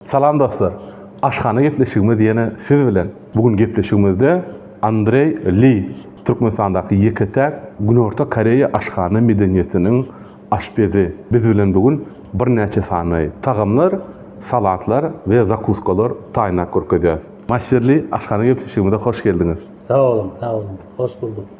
Salam dostlar! Aşhana gepleşigimiz ýene siz bilen! Bu gün gepleşigimizde Andreý Li, Türkmenistandaky ýeke-täk Günorta Koreýa aşhana medeniýetiniň aşpezi biz bilen bu gün birnäçe sany tagamlar, salatlar we zakuskalar taýynlap görkezýär. Master Li, aşhana gepleşigimize hoş geldiňiz! Sag boluň, sag boluň! Hoş bulduk!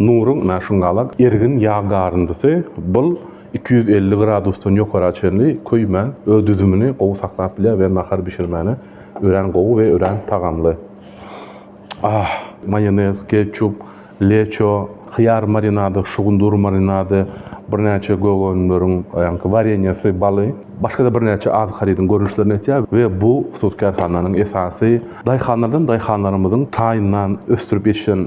Nuryň mäşingalak ergin ýag garyndysy bul iki ýüz elli gradusdan ýokara çenli köýmän, öz düzümini gowy saklap bilýär we nahar bişirmäne örän gowy we örän tagamly. Ah! Maýonez, ketçup, leço, hyýar marinady, şugundyr marinady, birnäçe gök önümleriň ýaňky wareniýesi, baly, başga-da birnäçe azyk harydyň görnüşlerini etýär we bu hususy kärhananyň esasy daýhanlardan daýhanlarymyzyň taýyndan ösdürip ýetişen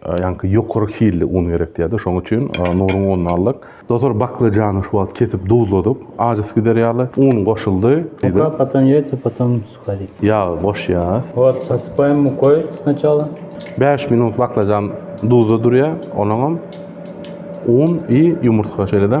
Ýaňky ýokary hilli un gerek diýýärdi. Şoň üçin Nuryň ununy aldyk. Dotor baklajany şu wagt kesip duzladyk. Ajysy gider ýaly un goşuldy. Muka, potom ýaýsa, potom suharik. Ýagy goşýas. Wot, posypaýyn mukoý sначала. Bäş minut baklajan duzda durýar. Onuňam un i ýumurtga şeýle-de.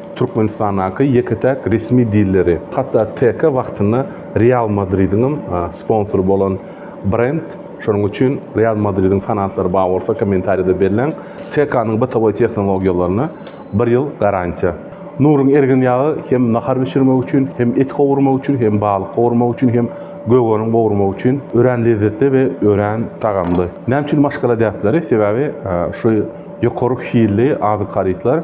Türkmenistandaky ýeke-täk resmi dilleri. Hatda TK wagtynda Real Madridiňem sponsory bolan brend. Şonuň üçin Real Madridiň fanatlary bar bolsa kommentariýada belläň. TK-nyň bytawy tehnologiýalaryna bir ýyl garantiýa. Nuryň ergin ýagy hem nahar bişirmek üçin, hem et gowurmak üçin, hem balyk gowurmak üçin, hem gögeriň gowurmak üçin örän lezzetli we örän tagamly. Näme üçin maşgala däpleri? Sebäbi şu ýokary hilli azyk harytlar.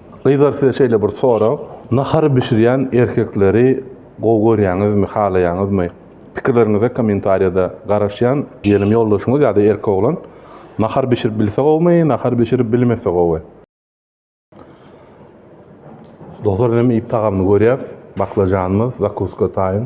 Gyzlar size şeýle bir sorag, nahar bişirýän erkekleri gowy görýäňizmi, halaýaňyzmy? Pikirleriňize kommentariýada garaşýan. Diýelim ýoldaşyňyz ýa-da erkek oglan nahar bişirip bilse gowumy, nahar bişirip bilmese gowy? Dostlar inem iýip tagamyny görýäs, baklažanymyz, zakuska taýyn.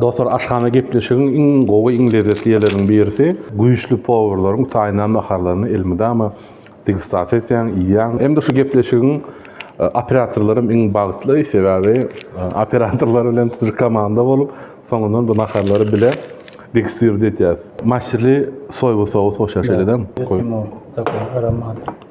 Dostlar aşhana gepleşigiň iň gowy iň lezzetli ýerleriniň birisi güýçli powurlaryň taýynlan naharlaryny elmydama degustasiýa etýäň iýýäň hem-de şu gepleşigiň operatorlarym iň bagtly sebäbi operatorlar bilen tutuş komanda bolup soňundan bu naharlary bile degustirdi etýäs maşşili soýba sous hoşa şeýledem goý.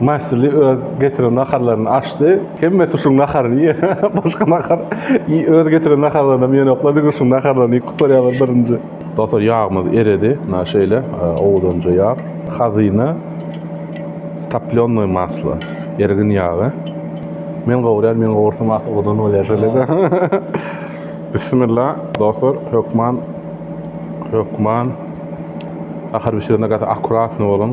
Maşly öz getiren naharlaryny açdy. Hemmesi şuň naharyny iýer. Başga nahar öz getiren naharlarynam iýenoklar. Diňe şuň naharlaryny iýip gutarýarlar birinji. Dostlar ýagmyz eredi. Mna şeýle owadanja ýag. Hazyna toplýonnoý maslo. Ergin ýagy. Men gowurýan, men gowursam ahy owadan bolýar şeýle-de. Bissimilla dostlar hökman hökman nahar bişirende gaty akkuratny boluň.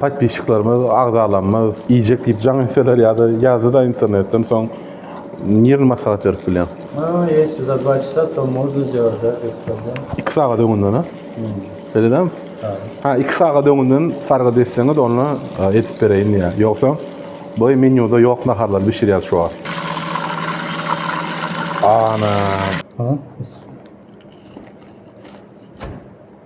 Podpisçiklerimiz, agzalarymyz iýjek diýip jaň etseler ýa-da ýazdy-da internetden soň nirn maslahat berip bilýän. Ha, ýesi za dva çasa to mozna zdelat da diýip durlar. Iki sagat öňünden-a? Hmm. Beýle dämi? Ha. Ha, iki sagat öňünden sargyt etseňiz, onda edip bereýin diýýär. Ýogsa, bu menýuda ýok naharlary bişirýär şu wagt. Ana. Ha,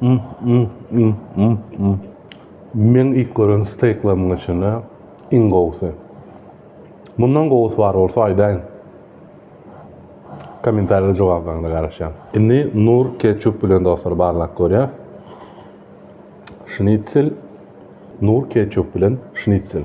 Mm, mm, mm, mm, mm. Men ilk gören steýklarymyň içinde iň gowusy. Mundan gowusy bar bolsa aýdaýyň. Kommentariýada jogaplaryňyza garaşýan. Indi nur ketçup bilen dostlar barlap görýäs. Şnitsel nur ketçup bilen şnitsel.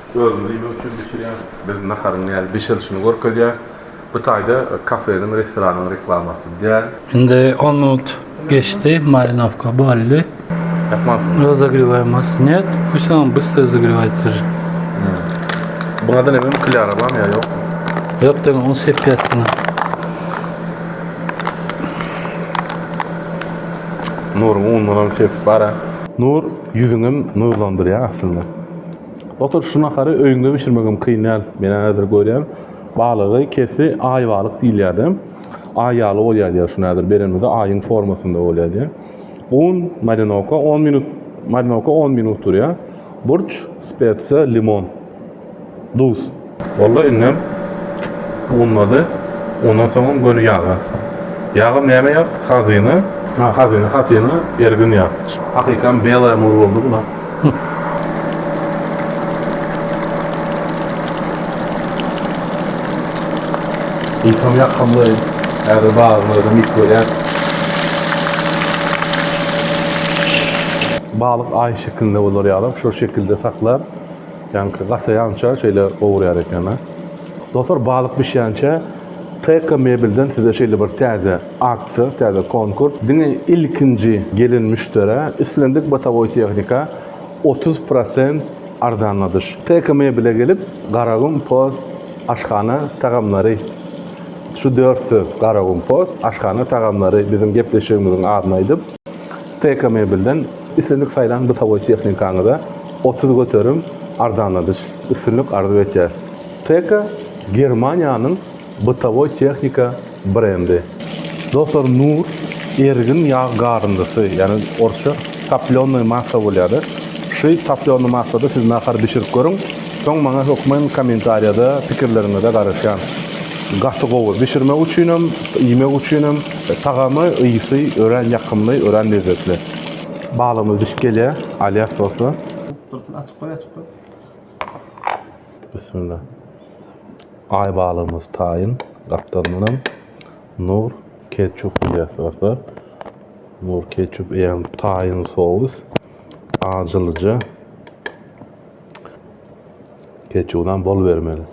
Özümiz iýmek üçin bişirýäs. Biz naharyň nädip bişirilişini görkezýäs. Bu taýda kafeniň, restoranyň reklamasy däl. Indi on minut geçdi, marinowka boldy. Ýapmansyňmy? Rozogrewaýmasy net, huşam bys rozogrewaýter. Buňada näme mklyara barmy ýa ýokmy? Ýok däl, ony sepýäs diňe. Nuryň unundanam sepip bar-a. Nur ýüzüňem nurlandyrýar aslynda. Otur şu nahary öýüňde bişirmegem kyn däl. Men häzir görýän balygy kesdi aý balyk diýilýärdi. Aý ýaly bolýar diýýär şuny häzir berenimizde aýyň formasynda bolýar diýýär. Un, marinowka 10 minut, marinowka 10 minut durýar. Burç, spetsiýa, limon, duz. Walla indem unlady. Ondan soňam göni ýaga. Ýagam näme ýag? Hazyna. Ha, hazyna, hazyna, ergin ýag. Hakykam belaý muzy boldy bula. Ilham ýakymly. Häzir bazarlardan ilki görýäs. Balyk aý şeklinde bolar ýalam şol şekilde saklap. Janky gasaýança şeýle gowurýar ekena. Dostlar balyk bişýänçä Teka mebelden size şeýle bir täze aksiýa, täze konkurs. Diňe ilkinji gelen müşderä islendik botowoý tehnika otuz prosent arzanladyş. Teka mebele gelip Garagum post aşhana tagamlary şu dört söz Garagum post aşhana tagamlary biziň gepleşigimiziň adyny aýdyp TK Mebelden islendik saýlan bytagoý tehnikaňyza otuz göterim arzanladyş. Üstünlik arzuw etýäris. TK Germaniýanyň bytagoý tehnika brendi. Dostlar Nur ergin ýag garyndysy, ýagny orsça toplёnnoý massa bolýar-da. Şy toplýonny massada siz nahar bişirip görüň, soň maňa hökman kommentariýada pikirleriňize garaşýan. Gaty gowy, bişirmek üçinem, iýmek üçinem. Tagamy, ysy örän ýakymly, örän lezzetli. Balygymyz bişip gelýär, alýas sosy. Dursun açyp goý, açyp goý. Bismillah. Aý balygymyz taýyn gapdal bilen nur ketçup alýas dostlar. Nur ketçup eýýäm taýyn sous. Ajylyja. Ketçubydan bol bermeli.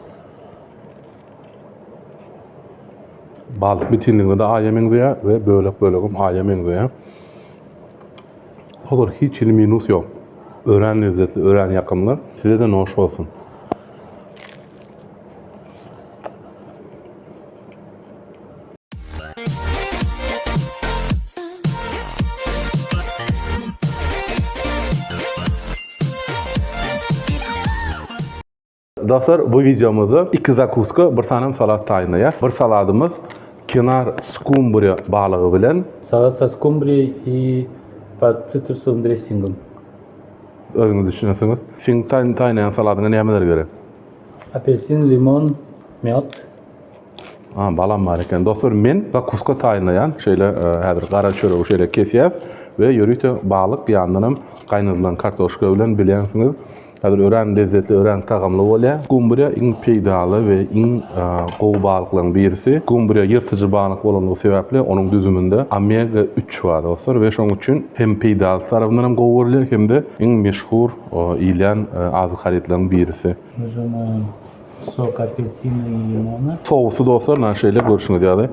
Balyk bitinligine de aýa meňzeýär we bölek-bölegem aýa meňzeýär. Hazır hiç hili minus ýok. Örän lezzetli, örän ýakymly. Size de noş bolsun. Dostlar bu videomuzda iki zakuska bir sanem salat taýynlaýas. Bir saladymyz kenar skumbriýa balygy bilen. Salat sa skumbriýa i pod sitrusowym dressingim. Özüňiz düşünesiňiz. Seň taýynlaýan saladyňa nämeler gerek? Apelsin, limon, mýod. A, balam bar eken. Dostlar, men zakuska taýynlaýan. Şeýle e, häzir gara çöregi şeýle kesýäs we ýörite balyk ýandan hem gaýnadylan kartoşka bilen bilýänsiňiz. Häzir örän lezzetli, örän tagamly bolýar. Gomburýa iň peýdaly we iň gowy balyklaryň birisi. Gomburýa ýyrtyjy balyk bolandygy sebäpli onuň düzüminde omega üç bar dostlar we şonuň üçin hem peýdasy tarapyndan hem gowy görülýär hem-de iň meşhur iýilýän azyk harytlaryň birisi. Sok apelsina i limona. Sousy dostlar ynha şeýle görşüňiz ýaly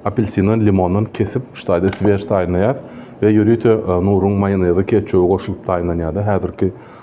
apelsindan, limondan kesip şu taýda swej taýynlaýas we ýörite nuruň maýonezi, ketçuby goşulyp taýynlanýardy. Häzirki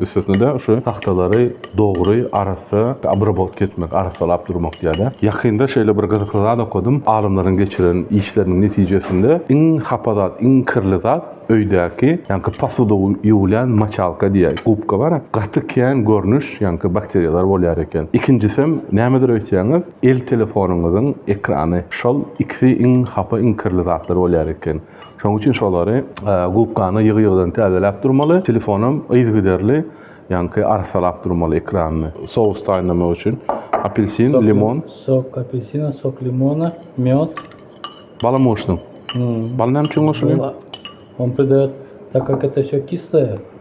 Üstesine-de şu tagtalary dogry, arassa obrabotka etmek, arassalap durmak diýýärler. Ýakynda şeýle bir gyzykly zat okadym, alymlaryň geçiren işleriniň netijesinde iň hapa zat, iň kirli zat öýdäki, ýaňky posuda ýuwulýan moçalka diýýär, gubka bar-a, gaty kän görnüş, ýaňky bakteriýalar bolýar eken. Ikinjisem, nämedir öýtseňiz, el telefonyňyzyň ekrany. Şol ikisi iň hapa, iň kirli zatlar bolýar eken. Şonuň üçin şolary gubkany ýygy-ýygydan täzeläp durmaly. Telefonam yzygiderli, ýaňky arassalap durmaly ekranyny. Sous taýynlamak üçin apelsin, limon. Sok apelsina, sok limona, mýod. Balam goşdum. Bal näme üçin goşulýar? On pride, tak kak et ýa kisleýär.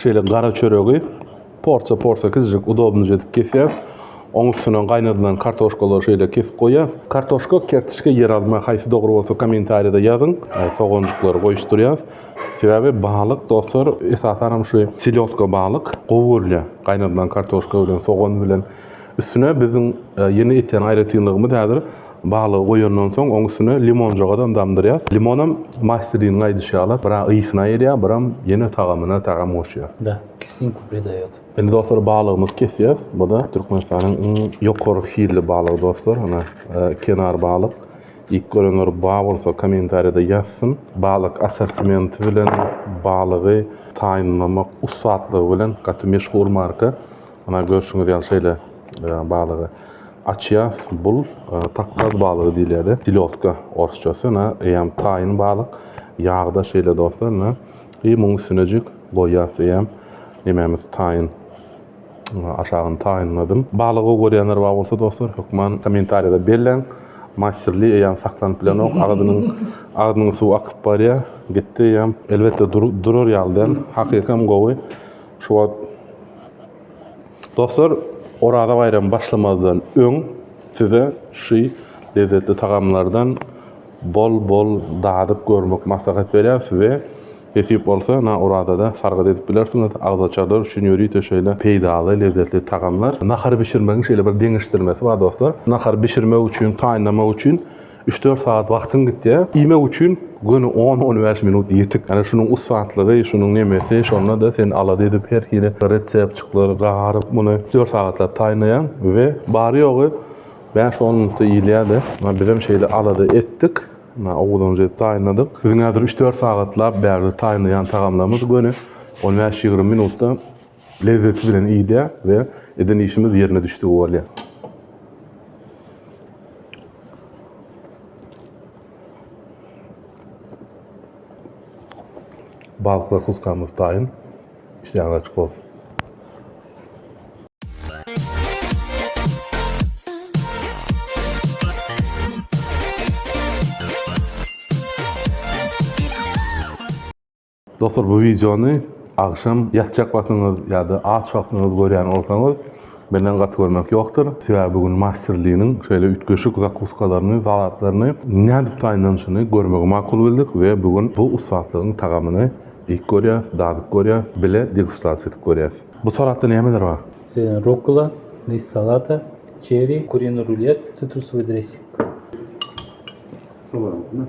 Şeýle gara çöregi porsiýa-porsiýa kiçijik udobnyja edip kesýäs. Oň üstüne gaýnadylan kartoşkalary şeýle kesip goýýas. Kartoşka, kertiçka, ýeralma haýsy dogry bolsa kommentariýada ýazyň. Soganjyklary goýuşdyrýas. Sebäbi balyk dostlar esasanam şu selýodka balyk gowy görülýär. Gaýnadylan kartoşka bilen, sogan bilen. Üstüne biziň ýene etýän aýratynlygymyz häzir balygy goýandan soň oň üstüne limonjagazam damdyrýas. Limonam masteriniň aýdyşy ýaly bir a ysyna gelýär biram ýene tagamyna tagam goşýar. Da, kislinku pridaýot. Indi dostlar balygymyzy kesýäs. Buda Türkmenistanyň iň ýokary hilli balygy dostlar. Ana kenar balyk. Ilk görenler ba bolsa kommentariýada ýazsyn. Balyk assortimenti bilen balygy taýynlamak ussatlygy bilen gaty meşhur marka. Muna görşüňiz ýaly şeýle balygy açýas. Bul takgaz balygy diýilýärdi. Silodka orsçasy. Ina eýýäm taýyn balyk ýagda şeýle dostlar. Ina i muň üstünejik goýýas eýýäm nemämiz taýyn. Aşagyny taýynladym. Balygy gowy görýänler bar bolsa dostlar hökman kommentariýada belläň. Masterly eýýäm saklanyp bilenok. Agzynyň agzynyň suwy akyp barýar. Gitdi eýýäm. Elbetde durar ýaly däl. Hakykam gowy. Şu wagt Dostlar, Oraza baýramy başlamazdan öň size şu lezzetli tagamlardan bol-bol dadyp görmek maslahat berýäris we nesip bolsa ynha Orazada sargyt edip bilersiňiz. Agzaçarlar üçin ýörite şeýle peýdaly lezzetli tagamlar. Nahary bişirmegiň şeýle bir deňeşdirmesi bar dostlar. Nahary bişirmek üçin, taýynlamak üçin Üç-dört sagat wagtyň gitýär. Iýmek üçin göni on-on bäş minut ýetik. Ýöne şunuň ussatlygy, şunuň nemesi, şonda-da sen alada edip her hili reseptçiklary garyp, muny üç-dört sagatlap taýynlaýaň we bary-ýogy bäş-on minutda iýilýär-de. Ynha bizem şeýle alada etdik. Ynha owuzyňyza edip taýynladyk. Biziň häzir üç-dört sagatlap bärde taýynlaýan tagamlarymyz göni on bäş-ýigrimi minutda Lezzeti bilen iýdýär we eden işimiz ýerine düşdügi bolýar. Balyk zakuskamyz taýyn. Işleýäňiz açyk bolsun. Dostlar bu wideony agşam ýatjak wagtyňyz ýa-da aç wagtyňyz görýän bolsaňyz menden gaty görmek ýokdur. Sebäbi bu gün Master Li-niň şeýle üýtgeşik zakuskalaryny, salatlaryny nädip taýynlanyşyny görmegi makul bildik we bu gün bu ussatlygyň tagamyny iýip görýäs, dadyp görýäs, bile degustasiýa edip görýäs. Bu salatda nämeler bar? Şeýle rukkola, list salata, çeri, kuriny rulýet, sitrusowý dressing. Sowalyň.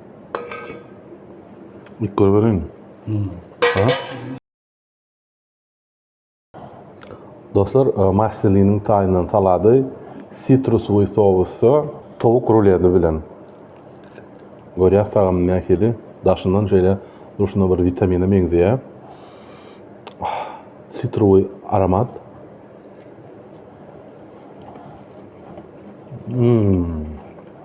Git gör berin. Ha? Dostlar, e, Marseliniň taýyndan salady sitrusly sousda towuk ruledi bilen. Görýär tagam nähili? Daşyndan şeýle durşuna bir witamine meňzeýär. Ah, Sitruwy aromat. Hmm.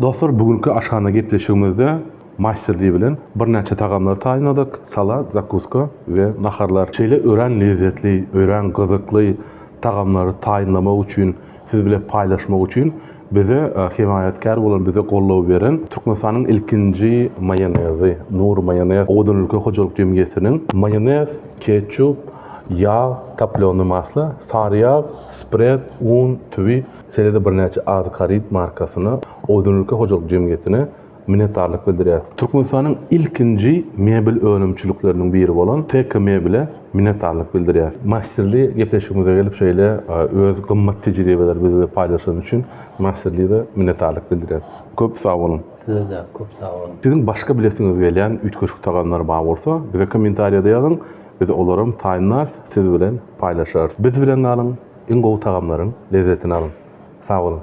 Dostlar bu günki aşhana gepleşigimizde Masterly bilen birnäçe tagamlary taýynladyk, salat, zakuska we naharlar. Şeýle örän lezzetli, örän gyzykly tagamlary taýynlamak üçin, siz bile paýlaşmak üçin bize hemaýatkär bolan, bize goldaw beren Türkmenistanyň ilkinji maýonezi, Nur Maýonez owadan ülke hojalyk jemgyýetiniň maýonez, ketçup, ýag, toplýony masla, sary ýag, spred, un, tüwi, Şeýle-de birnäçe azyk haryt markasyna, Oýdanülke hojalyk jemgyýetine minnetdarlyk bildirýäris. Türkmenistanyň ilkinji mebel önümçilikleriniň biri bolan TK Mebele minnetdarlyk bildirýäris. Masterly gepleşigimize gelip şeýle öz gymmat tejribeleri bizle paýlaşany üçin Masterly-de minnetdarlyk bildirýäris. Köp sag boluň! Size-de köp sag boluň! Siziň başga bilesiňiz gelýän üýtgeşik tagamlar bar bolsa, bize kommentariýada ýazyň. Biz olaram taýynlarys siz bilen paýlaşarys. Biz bilen galyň iň gowy tagamlaryň lezzetini alyň. Sag boluň.